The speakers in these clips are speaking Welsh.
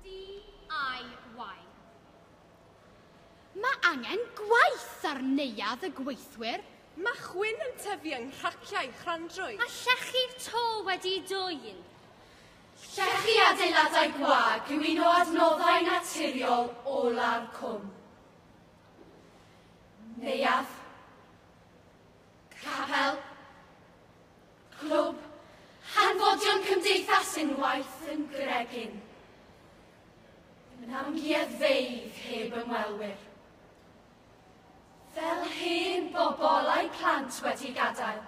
DIY. Mae angen gwaith ar neuadd y gweithwyr. Mae chwyn yn tyfu yng nghraciau chrandrwy. Mae llechi'r to wedi dwyn. Llechi adeiladau gwag yw un o adnoddau naturiol olaf cwm. Neuadd. Capel. Clwb Hanfodion Cymdeithas Unwaith yn Gregin. Yn amgueddfeydd heb ymwelwyr. Fel hen bobl a'u plant wedi gadael.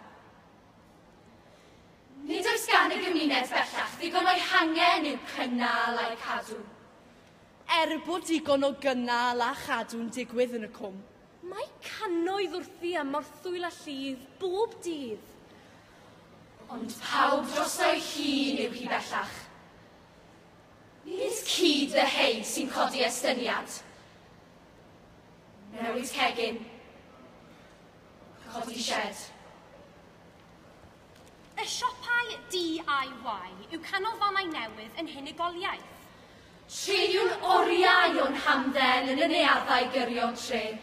Nid oes gan y gymuned bellach ddigon o'i hangen i'w cynnal a'i cadw. Er bod digon o gynnal a chadw'n digwydd yn y Cwm, Mae cannoedd wrthi am morthwyl a llif bob dydd. Ond pawb drosto'i hun yw hi bellach. Nid cyd fyheid sy'n codi estyniad. Newid cegin. Codi sied. Y siopau DIY yw canolfannau newydd yn hunigoliaeth. Treuliwn oriau o'n hamdden yn y neuaddau gyrion trên,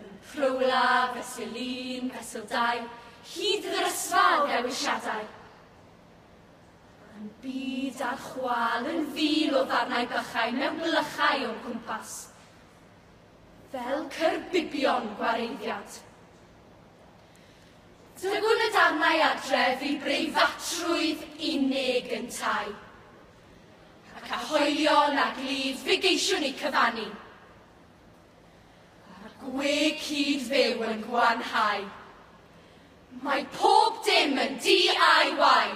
yn Prowla, Fesul Un, Fesul Dau, hyd yn yr ysfa o ddewisiadau. Yn byd ar chwâl yn fil o ddarnau bychain mewn blychau o'n cwmpas. Fel cyrbibion gwareiddiad. Dygwn y darnau adref i breifatrwydd unig yntau, ac a hoelion a glud fe geisiwn eu cyfannu. Mae'r gwe cyd-fyw yn gwanhau. Mae pob dim yn DIY!